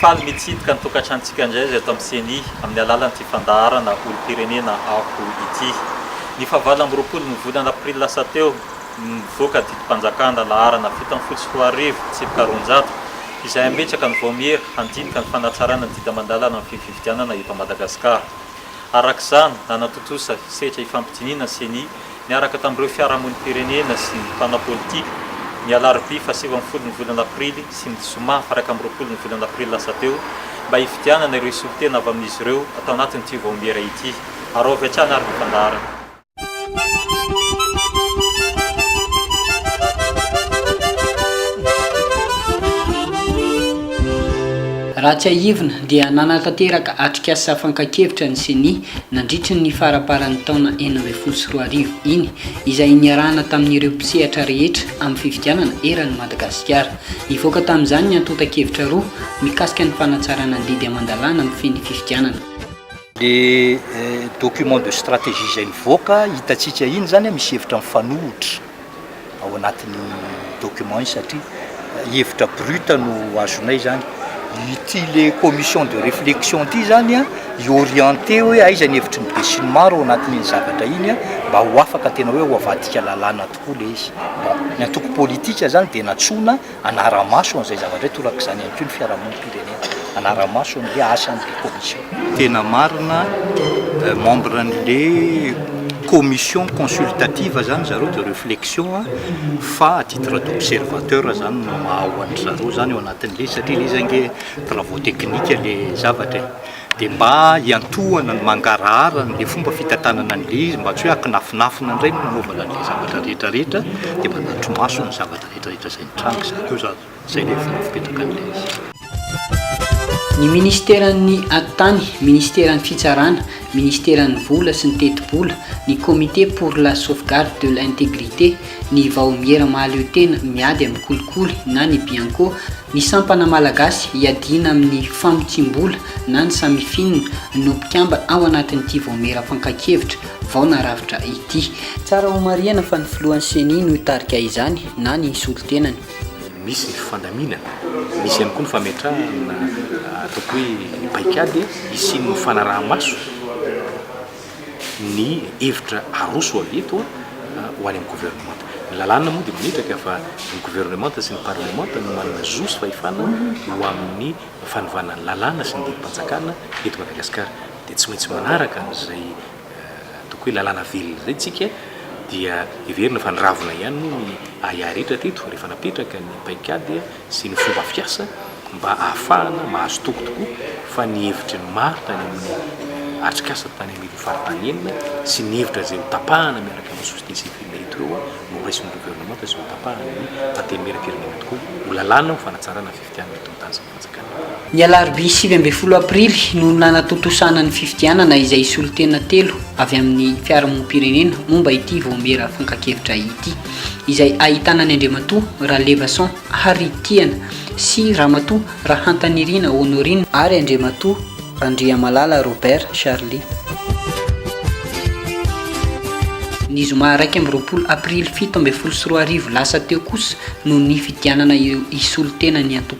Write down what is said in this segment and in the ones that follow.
Faly mitsidika ny tokantranontsika indray aza eto amin'ny Ceni amin'ny alalan'ity fandaharana olom-pirenena aho ity. Ny fahavalo amby roapolo ny volana aprily lasa teo no nivoaka didim-panjakana laharana fito amby folo sy roa arivo tsipika roanjato izay hametraka ny vaomiera handinika ny fanatrarana ny didy aman-dalana amin'ny fifidianana eto Madagasikara. Araka izany, nanatontosa hesetra hifampidinihina ny Ceni niaraka tamin'ireo fiarahamonim-pirenena sy mpanao politika, ny alarobia fahasivy ambin'ny folon'ny volana aprily sy ny zoma faha iraika amby roapolon'ny volana aprily lasa teo, mba hifidianana ireo solontena avy amin'izy ireo atao anatin'ity vaomiera ity. Araovy hatrany ary ny fandaharana. Raha tsiahivina dia nanatanteraka atrikasa fakan-kevitra ny Ceni Nandritry ny faraparan'ny taona enina ambin'ny folo sy roa arivo iny, izay niarahana tamin'ireo mpisehatra rehetra amin'ny fifidianana eran'i Madagasikara, nivoaka tamin'izany ny antontan-kevitra roa mikasika ny fanatsarana ny didy aman-dalàna mifehy ny fifidianana. Ilay document de stratégie izay nivoaka, hitantsika iny izany, misy hevitra mifanohitra. ao anatin'ny document iny satria hevitra brut no azonay zany. Ity le commission de réflexion ity zany a, hi-orienter hoe aiza ny hevitry ny besinimaro ao anatin'iny zavatra iny a, mba ho afaka tena hoe ho avadika lalàna tokoa le izy. Bon, ny antoko politika zany dia nantsoina hanara-maso an'izay zavatra izay, torak'izany ihany koa ny fiarahamonim-pirenena hanara-maso ny hoe asa an'ilay commission. Tena marina, membre an'ilay commission consultative izany zareo de reflexion fa à titre d'observateur izany no maha ho an-dry zareo izany ao anatin'ilay izy satria ilay izy ange travaux techniques ilay zavatra e. Dia mba hiantohana ny mangarahara an'ilay fomba fitantanana an'ilay izy mba tsy hoe akinafinafina indray no nanaovana an'ilay zavatra rehetrarehetra dia mba hanatri-maso ny zavatra. Midrahitra izay nitranga izay koa izany, izay ilay vola fipetraka an'ilay izy. Ny Ministeran'ny Atitany, Ministeran'ny Fitsarana, Ministeran'ny Vola sy ny Tetibola, ny Comité pour la Sauvegarde de l'Intégrité, ny Vaomiera Mahaleo Tena Miady amin'ny Kolikoly na ny Bianco, ny Sampana Malagasy Hiadiana amin'ny Famotsiam-bola na ny Samifin no mpikamba ao anatin'ity Vaomiera Fankakevitra vao narafitra ity. Tsara homarihana fa ny filohan'ny ceni no hitarika izany na ny hisolo tenany. Misy ny fandaminana, misy ihany koa ny fametrahana ataoko hoe paikady hisian'ny fanaraha-maso ny hevitra aroso avy eto ho any amin'ny governemanta. Ny lalàna moa dia mametraka fa ny governemanta sy ny parlemanta no manana zo sy fahefana ho amin'ny fanovana ny lalàna sy ny didim-panjakana eto Madagasikara. dia tsy maintsy manaraka an'izay ataoko hoe lalàna velona izay isika, dia heverina fa niravona ihany moa ny ahiahy rehetra teto rehefa napetraka ny paikady sy ny fomba fiasa mba hahafahana mahazo toky tokoa fa ny hevitry ny maro tany amin'ny atrikasa tany amin'ireo faritany enina sy ny hevitra izay hotapahana miaraka amin'ny société civile eto ireo no horaisin'ny governemanta sy hotapahan'ny antenimieram-pirenena tokoa ho lalàna ho fanatsarana fifidianana eto Mtazana. Ny alarobia sivy ambin'ny folo aprily no nanatontosana ny fifidianana izay solontena telo avy amin'ny fiarahamonim-pirenena momba ity vaomiera fankakevitra ity, izay ahitana ny Andriamatoa Ralevason Harry Tiana sy Ramatoa Rahantanirina Honorine ary Andriamatoa Randriamalala Robert Charly. Ny zoma iraika amby roapolo aprily fito ambin'ny folo sy roa arivo lasa teo kosa no nifidianana ireo hisolo tena ny antoko.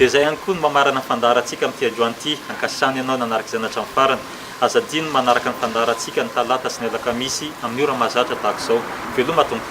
Dia izay ihany koa no mamarana ny fandaharantsika amin'ity androany ity. Ankasitrahana ianao nanaraka izany hatramin'ny farany. Aza adino ny manaraka ny fandaharantsika ny talata sy ny alakamisy amin'ny ora mahazatra tahaka izao. Veloma Tompo.